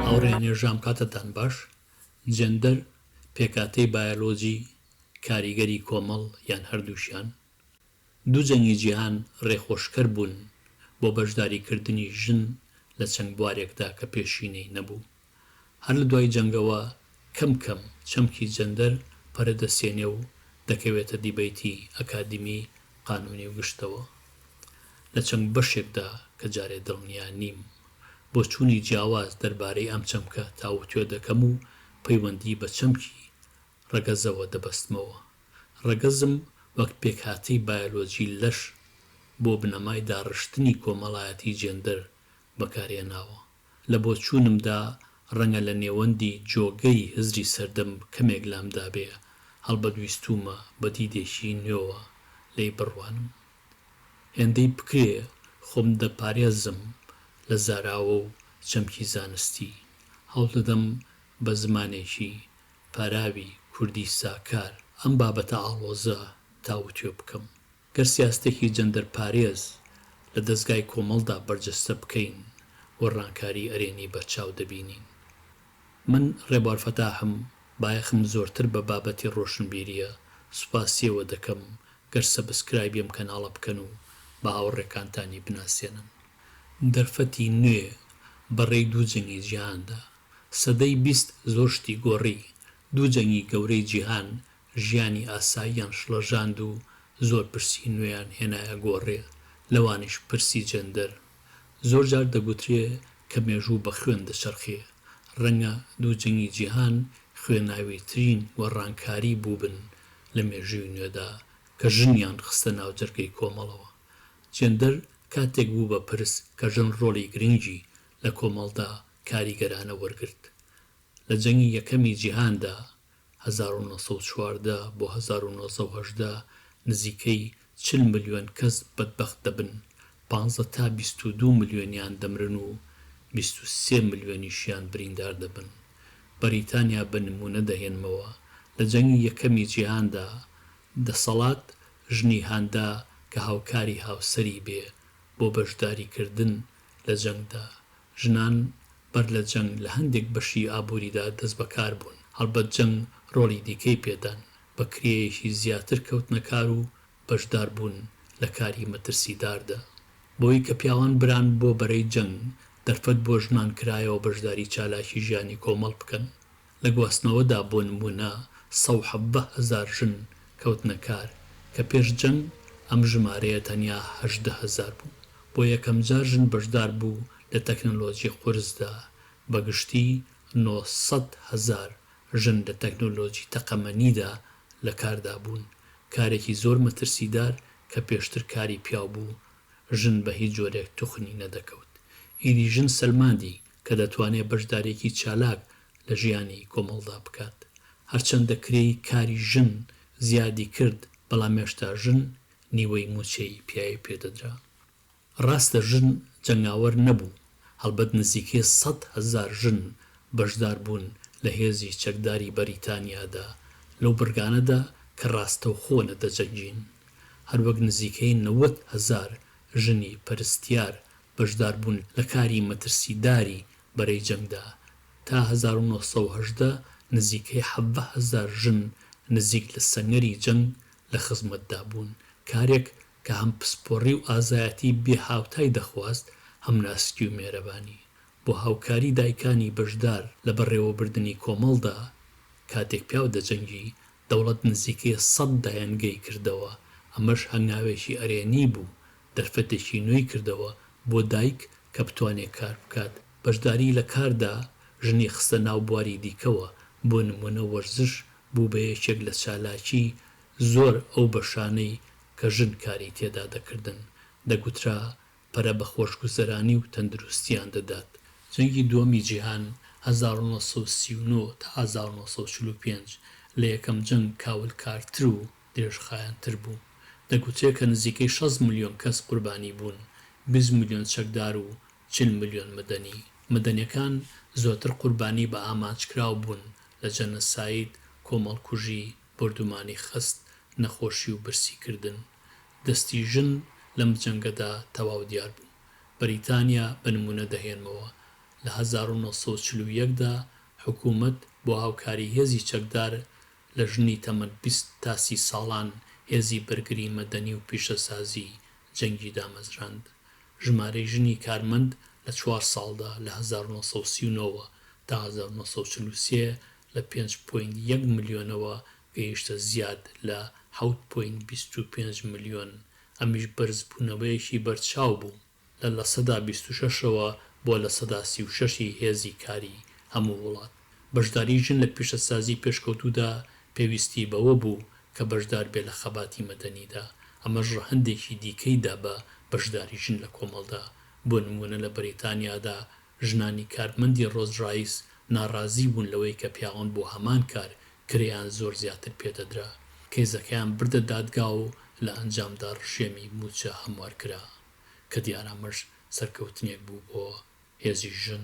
هاوڕێیانێژام کاتتان باش جێندەر پێکاتەی بایەلۆجی کاریگەری کۆمەڵ یان هەردووکیان دوو جەنگی جیهان ڕێخۆشکەر بوون بۆ بەشداریکردنی ژن لە چەند بوارێکدا کە پێشینەی نەبوو. هەر لە دوای جەنگەوە کەم کەم چەمکی جەندەر پەرە دەستێنێ و دەکەوێتە دیبەیتی ئەکادیمی، قانونی و گشتەوە. لە چەند بەشێکدا کە جارێ دڵنیا نیم بۆچوونی جیاواز دەربارەی ئەم چەمکە تاوتوێ دەکەم و پەیوەندی بە چەمکی ڕەگەزەوە دەبەستمەوە. ڕەگەزم وەک پێکهاتەی بایۆلۆجی لەش بۆ بنەمای داڕشتنی کۆمەڵایەتی جێندەر بەکارهێناوە. لە بۆچوونمدا ڕەنگە لە نێوەندی جۆگەی هزری سەردەم کەمێک لامدابێ، هەڵبەت ویستوومە بە دیدێکی نوێوە لێی بڕوانم. هێندەی بکرێ خۆم دەپارێزم لە زاراوە و چەمکی زانستی. هەوڵدەدەم بە زمانێکی پاراوی کوردی ساکار ئەم بابەتە ئاڵۆزە تاوتوێ بکەم. گەر سیاستێکی جەندەر پارێز لە دەزگای کۆمەڵدا بەرجەستە بکەین، گۆڕانکاری ئەرێنی بەرچاو دەبینین. من، ڕێبوار فەتاحم، بایەخم زۆرتر بە بابەتی ڕۆشنبیرییە، سوپاسییەوە دەکەم گەر سەبسکرایبی ئەم کەناڵە بکەن و بە هاوڕێکانتانی بناسێنن. دەرفەتی نوێ بە ڕێی دوو جەنگی جیهاندا. سەدەی بیست زۆر شتی گۆڕی، دوو جەنگی گەورەی جیهان ژیانی ئاساییان شڵەژاند و زۆر پرسی نوێیان هێنایە گۆڕێ، لەوانیش پرسی جێندەر. زۆر جار دەگوترێ کە مێژوو بە خوێن دەچەرخێ، ڕەنگە دوو جەنگی جیهان خوێناویترین گۆڕانکاری بووبن لە مێژووی نوێدا کە ژنیان خستە ناو جەرگەی کۆمەڵەوە. جێندەر کاتێک بوو بە پرس کە ژن ڕۆڵی گرنگی لە کۆمەڵدا کاریگەرانە وەرگرت. لە جەنگی یەکەمی جیهاندا، هەزار و نۆ سەد و چواردە بۆ هەزار و نۆ سەد و هەژدە، نزیکەی چل ملیۆن کەس بەدبەخت دەبن، پانزە تا بیست و دوو ملیۆنیان دەمرن و بیست و سێ ملیۆنیشیان بریندار دەبن. بەریتانیا بە نموونە دەهێنمەوە، لە جەنگی یەکەمی جیهاندا، دەسەڵات ژنی هاندا کە هاوکاری هاوسەری بێ بۆ بەشداریکردن لە جەنگدا، ژنان بەر لە جەنگ لە هەندێک بەشی ئابووریدا دەستبەکار بوون، هەڵبەت جەنگ ڕۆڵی دیکەی پێدان، بە کرێیەکی زیاتر کەوتنە کار و بەشدار بوون لە کاری مەترسیداردا. بەوەی کە پیاوان بران بۆ بەرەی جەنگ، دەرفەت بۆ ژنان کرایەوە بەشداری چالاکی ژیانی کۆمەڵ بکەن، لە گواستنەوەدا بۆ نموونە سە و حەڤدە هەزار ژن کەوتنە کار کە پێش جەنگ ئەم ژمارەیە تەنیا هەژدە هەزار بوو. بۆ یەکەمجار ژن بەشدار بوو لە تەکنۆلۆجی قورسدا، بە گشتی نۆ سەد هەزار ژن لە تەکنۆلۆجی تەقەمەنیدا لە کاردا بوون، کارێکی زۆر مەترسیدار کە پێشتر کاری پیاو بوو، ژن بە هیچ جۆرێک توخنی نەدەکەوت. ئیدی ژن سەلماندی کە دەتوانێت بەشدارییەکی چالاک لە ژیانی کۆمەڵدا بکات. هەرچەندە کرێی کاری ژن زیادی کرد، بەڵام هێشتا ژن نیوەی مووچەی پیاوی پێ دەدرا. ڕاستە ژن جەنگاوەر نەبوو، هەڵبەت نزیکەی سەد هەزار ژن بەشدار بوون لە هێزی چەکداری بەریتانیادا، لەو بڕگانەدا کە ڕاستەوخۆ نەدەجەنگین. هەروەک نزیکەی نەوەد هەزار ژنی پەرستیار بەشداربوون لە کاری مەترسیداری بەرەی جەنگدا، تا هەزار و نۆ سەد و هەژدە نزیکەی حەڤە هەزار ژن نزیک لە سەنگەری جەنگ لە خزمەتدا بوون، کارێک کە هەم پسپۆڕی و ئازایەتی بێ هاوتای دەخواست، هەم ناسکی و مێرەبانی. بۆ هاوکاری دایکانی بەشدار لە بەڕێوەبردنی کۆمەڵدا، کاتێک پیاو دەجەنگی، دەوڵەت نزیکەی سەد دایەنگەی کردەوە، ئەمەش هەنگاوێکی ئەرێنی بوو دەرفەتێکی نوێی کردەوە بۆ دایک کە بتوانێت کار بکات، بەشداریی لە کاردا ژنی خستە ناو بواری دیکەوە، بۆ نموونە وەرزش بوو بە یەکێک لە چالاکیی زۆر ئەو بەشانەی کە ژن کاری تێدا دەکردن، دەگوترا پەرە بە خۆشگوزەرانی و تەندروستییان دەدات. جەنگی دووەمی جیهان، هەزار و نۆ سەد و سی و نۆ تا هەزار و نۆ سەد و چل و پێنج، لە یەکەم جەنگ کاولکارتر و درێژخایەنتر بوو، دەگوترێ کە نزیکەی شەست ملیۆن کەس قوربانی بوون، بیست ملیۆن چەکدار و چل ملیۆن مەدەنی. مەدەنیەکان زۆرتر قوربانی بە ئامانجکراو بوون لە جەنەساید، کۆمەڵکوژی، بۆردومانی خەست، نەخۆشی و برسی کردن. دەستی ژن لەم جەنگەدا تەواو دیار بوو. بەریتانیا بە نموونە دەهێنمەوە، لە هەزار و نۆ سەد و چل و یەک دا حکوومەت بۆ هاوکاری هێزی چەکدار لە ژنی تەمەن بیست تا سی ساڵان هێزی بەرگری مەدەنی و پیشەسازی جەنگی دامەزراند. ژمارەی ژنی کارمەند لە چوار ساڵدا لە هەزار و نۆ سەد و سی و نۆ وە تا هەزار و نۆ سەد و چل و سێ لە پێنج پۆینت یەک ملیۆنەوە گەیشتە زیاد لە حەوت پۆینت بیست و پێنج ملیۆن ئەمیش بەرزبوونەوەیەکی بەرچاو بوو. لە لە سەدا بیست و شەش ەوە بۆ لە سەدا سی و شەش ی هێزی کاری هەموو وڵات. بەشداری ژن لە پیشەسازی پێشکەوتوودا پێویستی بەوە بوو کە بەشدار بێ لە خەباتی مەدەنیدا، ئەمەش ڕەهەندێکی دیکەی دا بە بەشداری ژن لە کۆمەڵدا، بۆ نموونە لە بەریتانیادا ژنانی کارمەندی ڕۆز ڕایس ناڕازی بوون لەوەی کە پیاوان بۆ هەمان کار کرێیان زۆر زیاتر پێدەدرا، کەیزەکەیان بردە دادگا و لە ئەنجامدا ڕژێمی مووچە هەموار کرا، کە دیارە ئەمەش سەرکەوتنێک بوو بۆ هێزی ژن.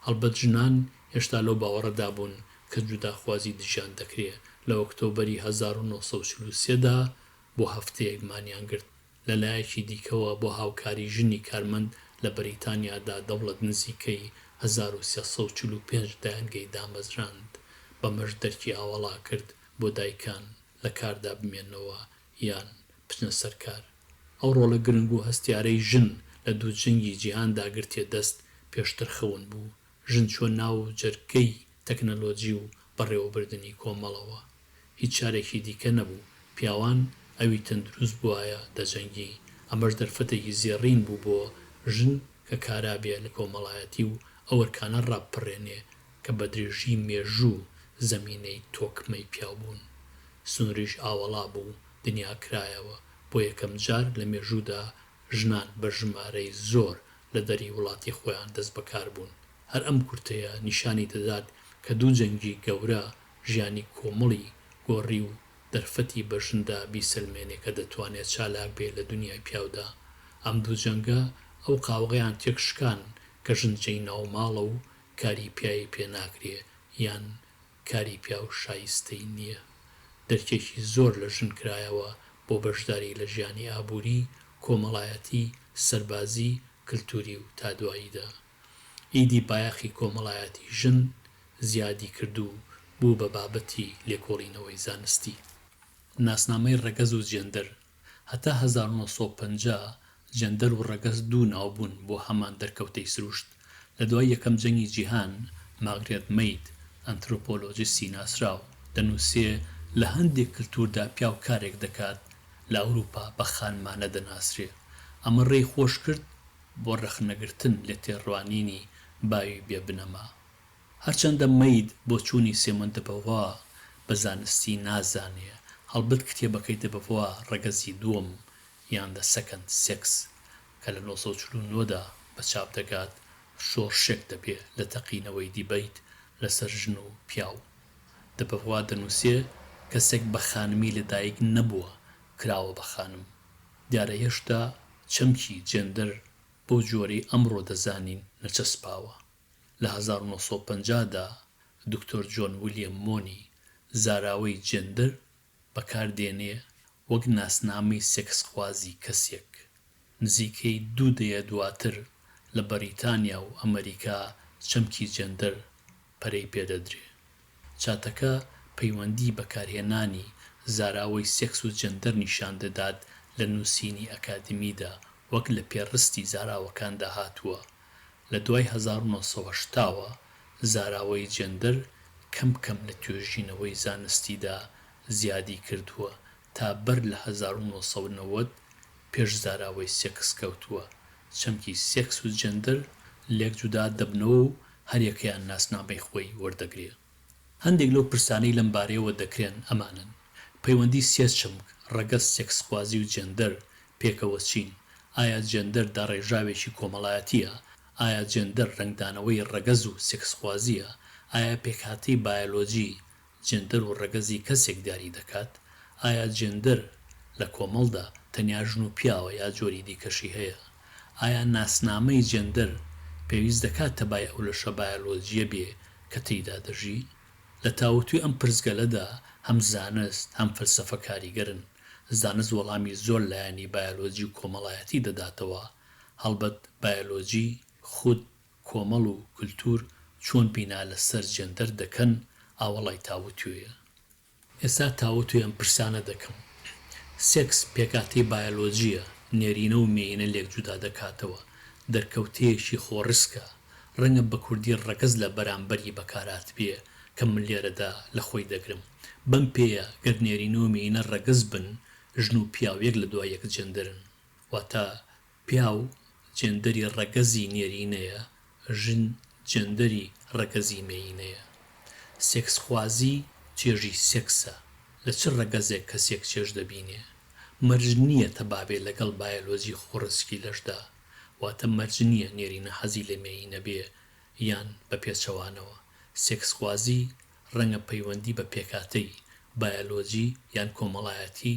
هەڵبەت ژنان هێشتا لەو باوەڕەدا بوون کە جوداخوازی دژیان دەکرێ، لە ئۆکتۆبەری هەزار و نۆ سەد و چل و سێ دا بۆ هەفتەیەک مانیان گرت، لە لایەکی دیکەوە بۆ هاوکاری ژنی کارمەند لە بەریتانیادا دەوڵەت نزیکەی هەزار و سێ سەد و چل و پێنج دایەنگەی دامەزراند، بەمەش دەرکی ئاوەڵا کرد بۆ دایکان لە کاردا بمێنەوە یان بچنە سەر کار. ئەو ڕۆڵە گرنگ و هەستیارەی ژن لە دوو جەنگی جیهاندا گرتیە دەست، پێشتر خەون بوو، ژن چووە ناو جەرگەی تەکنەلۆجی و بەڕێوەبردنی کۆمەڵەوە، هیچ چارێکی دیکە نەبوو، پیاوان ئەوی تەندروست بوایە دەجەنگی، ئەمەش دەرفەتێکی زێڕین بوو بۆ ژن کە کارا بێ لە کۆمەڵایەتی و ئەو ئەرکانە ڕابپەڕێنێ کە بە درێژی مێژوو زەمینەی تۆکمەی پیاوبوون. سنووریش ئاوەڵا بوو، دنیا کرایەوە، بۆ یەکەم جار لە مێژوودا ژنان بە ژمارەی زۆر لە دەری وڵاتی خۆیان دەست بەکار بوون. هەر ئەم کورتەیە نیشانی دەدات کە دوو جەنگی گەورە ژیانی کۆمەڵی گۆڕی و دەرفەتی بە ژندا بیسەلمێنێ کە دەتوانێ چالاک بێ لە دونیای پیاودا. ئەم دوو جەنگە ئەو قاوغەیان تێک شکان کە ژن جێی ناوماڵە و کاری پیاوی پێ ناکرێ یان کاری پیاو شایستەی نییە، درکێکی زۆر لە ژن کرایەوە بۆ بەشداری لە ژیانی ئابووری، کۆمەڵایەتی، سەربازی، کلتووری و تا دواییدا. ئیدی بایەخی کۆمەڵایەتی ژن زیادی کرد و بوو بە بابەتی لێکۆڵینەوەی زانستی. ناسنامەی ڕەگەز و جێندەر هەتا هەزار و نۆ سەد و پەنجا جەندەر و ڕەگەز دوو ناو بوون بۆ هەمان دەرکەوتەی سروشت، لە دوای یەکەم جەنگی جیهان، ماگرێت مەید، ئەنترۆپۆلۆجیستی ناسراو، دەنووسێ، لە هەندێک کلتووردا پیاو کارێک دەکات لە ئەوروپا بە خانمانە دەناسرێ، ئەمە ڕێی خۆش کرد بۆ ڕەخنەگرتن لە تێڕوانینی باوی بێ بنەما. هەرچەندە مەید بۆچوونی سێمۆن دە بەڤوا بە زانستی نازانێ، هەڵبەت کتێبەکەی دە بەڤوا ڕەگەزی دووەم یان The Second Sex کە لە نۆ سەد و چل و نۆ دا بە چاپ دەگات، شۆڕشێک دەبێ لە تەقینەوەی دیبەیت لەسەر ژن و پیاو. دە بەڤوا دەنووسێ، کەسێک بە خانمی لە دایک نەبووە، کراوە بە خانم. دیارە هێشتا چەمکی جێندەر بەو جۆرەی ئەمڕۆ دەزانین نەچەسپاوە. لە هەزار و نۆ سەد و پەنجا دا دکتۆر جۆن ویلیەم مۆنی زاراوەی جێندەر بەکار دێنێ وەک ناسنامەی سێکسخوازی کەسێک. نزیکەی دوو دەیە دواتر لە بەریتانیا و ئەمەریکا چەمکی جێندەر پەرەی پێدەدرێ. چاتەکە پەیوەندی بەکارهێنانی زاراوەی سێکس و جێندەر نیشان دەدات لە نووسینی ئەکادیمیدا وەک لە پێڕستی زاراوەکاندا هاتووە لە دوای هەزار و نۆ سەد و هەشتا وە زاراوەی جێندەر کەم کەم لە توێژینەوەی زانستیدا زیادی کردووە تا بەر لە هەزار و نۆ سەد و نەوەد پێش زاراوەی سێکس کەوتووە، چەمکی سێکس و جێندەر لێک جودا دەبنەوە و هەریەکەیان ناسنامەی خۆی وەردەگرێ. هەندێک لەو پرسانەی لەم بارەیەوە دەکرێن ئەمانەن، پەیوەندی سێ چەمک، ڕەگەز، سێکسخوازی و جێندەر، پێکەوە چین؟ ئایا جێندەر داڕێژراوێکی کۆمەڵایەتییە؟ ئایا جێندەر ڕەنگدانەوەی ڕەگەز و سێکسخوازییە؟ ئایا پێکهاتەی بایەلۆجی، جێندەر و ڕەگەزی کەسێک دیاری دەکات؟ ئایا جێندەر لە کۆمەڵدا تەنیا ژن و پیاوە یا جۆری دیکەشی هەیە؟ ئایا ناسنامەی جێندەر پێویست دەکات تەبای ئەو لەشە بایەلۆجییە بێ کە تێیدا دەژی؟ لە تاوتوێ ئەم پرسگەلەدا هەم زانست هەم فەلسەفە کاریگەرن. زانست وەڵامی زۆر لایەنی بایەلۆجی و کۆمەڵایەتی دەداتەوە، هەڵبەت بایەلۆجی خود کۆمەڵ و کلتور چۆن بینا لە سەر جێندەر دەکەن ئاوەڵای تاوتوێیە. ئێستا تاوتوێ ئەم پرسانە دەکەم. سێکس پێکاتەی بایۆلۆجییە، نێرینە و مێینە لێک جودا دەکاتەوە، دەرکەوتەیەکی خۆڕسکە، ڕەنگە بە کوردی ڕەگەز لە بەرامبەری بەکارهاتبێ کە من لێرەدا لە خۆی دەگرم. بەم پێیە گەر نێرینە و مێینە ڕەگەز بن، ژن و پیاو یەک لە دوای یەک جێندەرن. واتە پیاو جێندەری ڕەگەزی نێرینەیە، ژن جێندەری ڕەگەزی مێیینەیە. سێکسخوازی چێژی سێکسە، لە چ ڕەگەزێک کەسێک چێژ دەبینێ. مەرج نییە تەبابێ لەگەڵ بایەلۆجی خۆڕسکی لەشدا، واتە مەرج نییە نێرینە حەزی لە مێیینە بێ یان بە پێچەوانەوە. سێکسخوازی ڕەنگە پەیوەندی بە پێکهاتەی، بایەلۆجی یان کۆمەڵایەتی،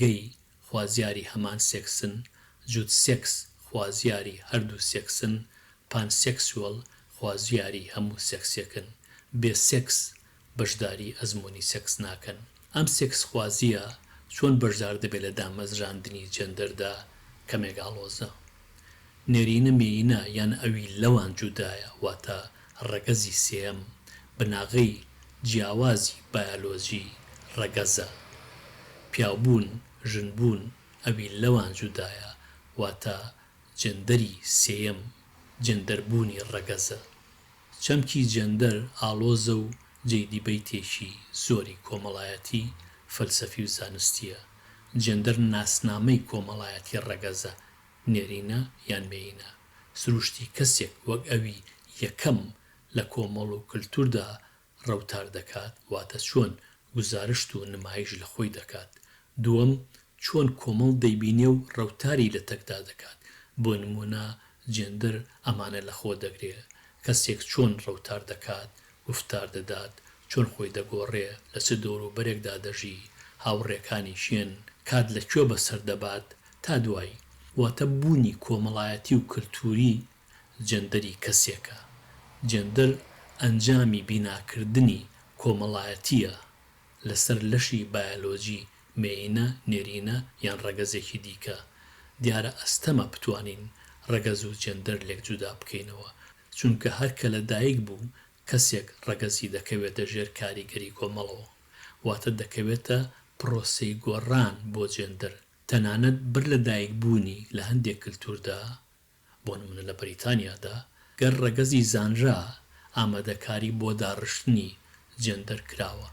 گەی خوازیاری هەمان سێکسن، جوت سێکس خوازیاری هەردوو سێکسن، پان سێکسوێڵ خوازیاری هەموو سێکسێکن، بێ سێکس بەشداری ئەزموونی سێکس ناکەن. ئەم سێکسخوازییە چۆن بەشدار دەبێت لە دامەزراندنی جێندەردا کەمێک ئاڵۆزە. نێرینە مێینە یان ئەوی لەوان جودایە واتە ڕەگەزی سێیەم بناغەی جیاوازی بایەلۆجی ڕەگەزە. پیاوبوون، ژنبوون ئەوی لەوان جودایە واتە جێندەری سێیەم جێندەربوونی ڕەگەزە. چەمکی جێندەر ئاڵۆزە و جێی دیبەیتێکی زۆری کۆمەڵایەتی، فەلسەفی و زانستییە. جێندەر ناسنامەی کۆمەڵایەتی ڕەگەزە، نێرینە یان مێینە، سروشتی کەسێک وەک ئەوی یەکەم لە کۆمەڵ و کلتوردا ڕەوتار دەکات، واتە چۆن گوزارشت و نمایش لە خۆی دەکات. دووەم، چۆن کۆمەڵ دەیبینێ و ڕەوتاری لە تەکدا دەکات. بۆ نموونە جێندەر ئەمانە لە خۆ دەگرێ، کەسێک چۆن ڕەوتار دەکات گوفتار دەدات، چۆن خۆی دەگۆڕێ، لە چ دەوروبەرێکدا دەژی، هاوڕێکانی کێن، کات لە کوێ بەسەر دەبات، تا دوایی. واتە بوونی کۆمەڵایەتی و کەلتووری جێندەری کەسێکە. جێندەر ئەنجامی بیناکردنی کۆمەڵایەتییە لەسەر لەشی بایەلۆجی، مێیینە، نێرینە یان ڕەگەزێکی دیکە. دیارە ئەستەمە بتوانین ڕەگەز و جێندەر لێک جودا بکەینەوە، چونکە هەر کە لە دایک بوو کەسێک ڕەگەزی دەکەوێتە ژێر کاریگەری کۆمەڵەوە، واتە دەکەوێتە پرۆسەی گۆڕان بۆ جێندەر، تەنانەت بەر لە دایک بوونی لە هەندێک کلتوردا، بۆ نمونە لە بەریتانیادا گەر ڕەگەزی زانرا ئامادەکاری بۆ داڕشتنی جێندەر کراوە،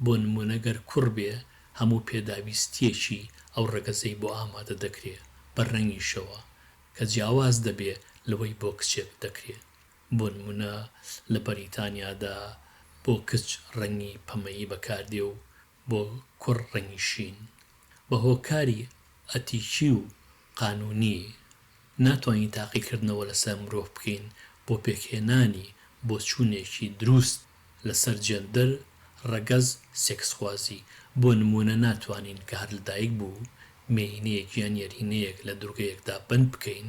بۆ نمونە گەر کوڕ بێ هەموو پێداویستیەکی ئەو ڕەگەزەی بۆ ئامادە دەکرێ بە ڕەنگیشەوە کە جیاواز دەبێ لەوەی بۆ کچێک دەکرێ، بۆ نموونە لە بەریتانیادا بۆ کچ ڕەنگی پەمەیی بەکاردێ و بۆ کوڕ ڕەنگی شین. بە هۆکاری ئەتیکی و قانوونی ناتوانین تاقیکردنەوە لەسەر مرۆڤ بکەین بۆ پێکهێنانی بۆچوونێکی دروست لەسەر جێندەر، ڕەگەز، سێکسخوازی، بۆ نموونە ناتوانین کە هەر لە دایک بوو مێیینەیەک یان یەرینەیەک لە دوورگەیەکدا بەند بکەین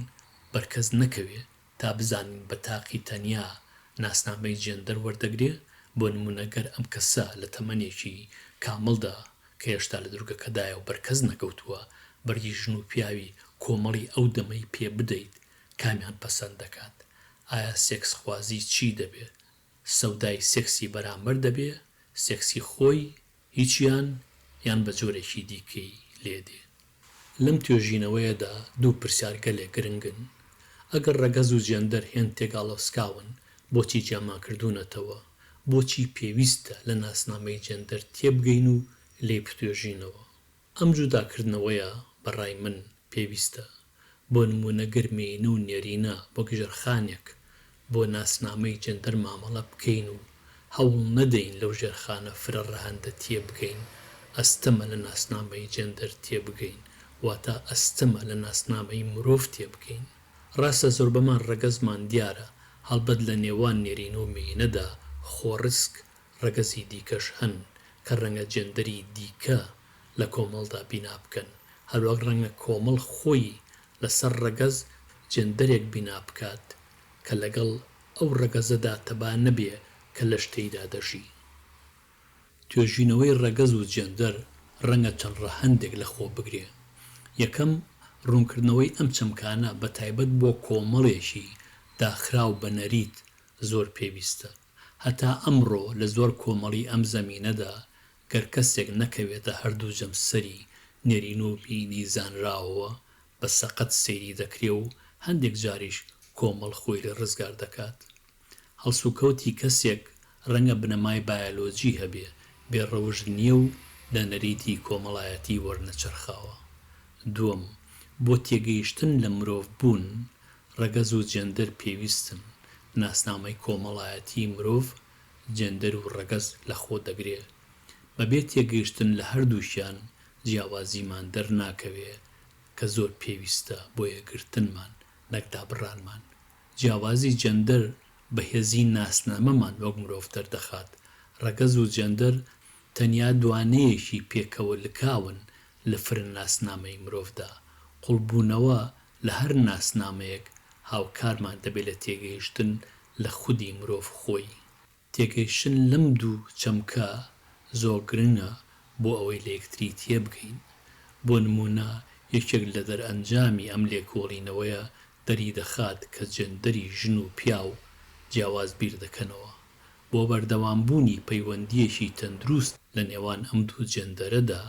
بەر کەس نەکەوێ تا بزانین بە تاقی تەنیا ناسنامەی جێندەر وەردەگرێ بۆ نموونە گەر ئەم کەسە لە تەمەنێکی کامڵدا کە هێشتا لە دوورگەکەدایە و بەر کەس نەکەوتووە بەرگی ژن و پیاوی کۆمەڵی ئەو دەمەی پێ بدەیت کامیان پەسەند دەکات؟ ئایا سێکسخوازی چی دەبێ سەودای سێکسی بەرامبەر دەبێ سێکسی خۆی هیچیان یان بە جۆرێکی دیکەی لێ دێ. لەم توێژینەوەیەدا دوو پرسیار گەلێ گرنگن، ئەگەر ڕەگەز و جێندەر هێند تێگاڵۆسکاون بۆچی جیامان کردوونەتەوە؟ بۆچی پێویستە لە ناسنامەی جێندەر تێبگەین و لێی بتوێژینەوە؟ ئەم جوداکردنەوەیە بە ڕای من پێویستە، بۆ نموونە گەر مێینە و نێرینە وەک ژێرخانێک بۆ ناسنامەی جێندەر مامەڵە بکەین و هەوڵ نەدەین لەو ژێرخانە فرە ڕەهەندە تێ بگەین، ئەستەمە لە ناسنامەی جێندەر تێ بگەین، واتە ئەستەمە لە ناسنامەی مرۆڤ تێ بگەین. ڕاستە زۆربەمان ڕەگەزمان دیارە، هەڵبەت لە نێوان نێرینە و مێینەدا خۆڕسک ڕەگەزی دیکەش هەن کە ڕەنگە جێندەری دیکە لە کۆمەڵدا بینا بکەن، هەروەک ڕەنگە کۆمەڵ خۆی لەسەر ڕەگەز جێندەرێک بینا بکات کە لەگەڵ ئەو ڕەگەزەدا تەبا نەبێ کە لەش تێیدا دەژی. توێژینەوەی ڕەگەز و جێندەر ڕەنگە چەند ڕەهەندێک لەخۆ بگرێ. یەکەم، ڕوونکردنەوەی ئەم چەمکانە بە تایبەت بۆ کۆمەڵێکی داخراو بە نەریت زۆر پێویستە. هەتا ئەمڕۆ لە زۆر کۆمەڵی ئەم زەمینەدا گەر کەسێک نەکەوێتە هەردوو جەمسەری نێرین و بینی زانراوەوە بە سەقەت سەیری دەکرێ و هەندێک جاریش کۆمەڵ خۆی لێ ڕزگار دەکات. هەڵسوکەوتی کەسێک ڕەنگە بنەمای بایەلۆجی هەبێ، بێ ڕەوشت نییە و لە نەریتی کۆمەڵایەتی وەرنەچەرخاوە. دووەم، بۆ تێگەیشتن لە مرۆڤ بوون ڕەگەز و جێندەر پێویستن، ناسنامەی کۆمەڵایەتیی مرۆڤ جێندەر و ڕەگەز لەخۆ دەگرێ. بەبێ تێگەیشتن لە هەردووکیان جیاوازیمان دەرناکەوێ کە زۆر پێویستە بۆ یەکگرتنمان نەک دابڕانمان. جیاوازی جێندەر بەهێزیی ناسنامەمان وەک مرۆڤ دەردەخات. ڕەگەز و جێندەر تەنیا دوانەیەکی پێکەوە لکاون لە فرە ناسنامەی مرۆڤدا. قوڵبوونەوە لە هەر ناسنامەیەک هاوکارمان دەبێت لە تێگەیشتن لە خودی مرۆڤ خۆی. تێگەیشتن لەم دوو چەمکە زۆر گرنگە بۆ ئەوەی لە یەکتری تێبگەین. بۆ نموونە یەکێک لە دەرئەنجامی ئەم لێکۆڵینەوەیە دەریدەخات کە جێندەری ژن و پیاو جیاواز بیر دەکەنەوە. بۆ بەردەوامبوونی پەیوەندییەکی تەندروست لە نێوان ئەم دوو جێندەرەدا،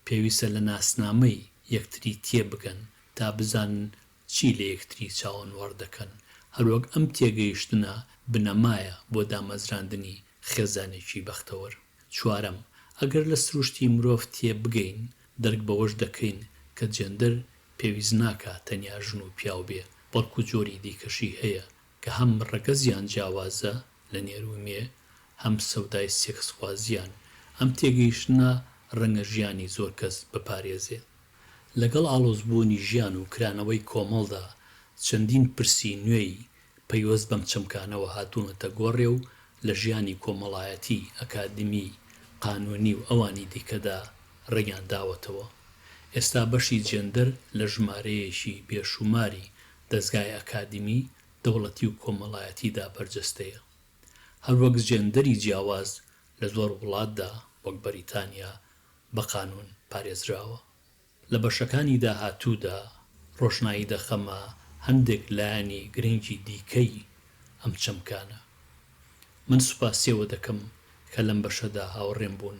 پێویستە لە ناسنامەی یەکتری تێبگەن تا بزانن چی لە یەکتری چاوەنوەڕ دەکەن، هەروەک ئەم تێگەیشتنە بنەمایە بۆ دامەزراندنی خێزانێکی بەختەوەر. چوارەم، ئەگەر لە سروشتی مرۆڤ تێبگەین، دەرک بەوەش دەکەین کە جێندەر پێویست ناکا تەنیا ژن و پیاو بێ، بەڵکو جۆری دیکەشی هەیە کە هەم ڕەگەزیان جیاوازە لە نێر و مێ، هەم سەودای سێکسخوازییان، ئەم تێگەیشتنە ڕەنگە ژیانی زۆر کەس بپارێزێ. لەگەڵ ئاڵۆزبوونی ژیان و کرانەوەی کۆمەڵدا، چەندین پرسی نوێی پەیوەست بەم چەمکانەوە هاتوونەتە گۆڕێ و لە ژیانی کۆمەڵایەتی، ئەکادمی، قانوونی و ئەوانی دیکەدا ڕەنگیان داوەتەوە. ئێستا بەشی جێندەر لە ژمارەیەکی بێشووماری دەزگای ئەکادیمی، دەوڵەتی و کۆمەڵایەتیدا بەرجەستەیە. هەروەک جێندەری جیاواز لە زۆر وڵاتدا وەک بەریتانیا بە قانوون پارێزراوە. لە بەشەکانی داهاتوودا ڕۆشنایی دەخەمە هەندێک لایەنی گرنگی دیکەی ئەم چەمکانە. من سوپاسیەوە دەکەم کە لەم بەشەدا هاوڕێم بوون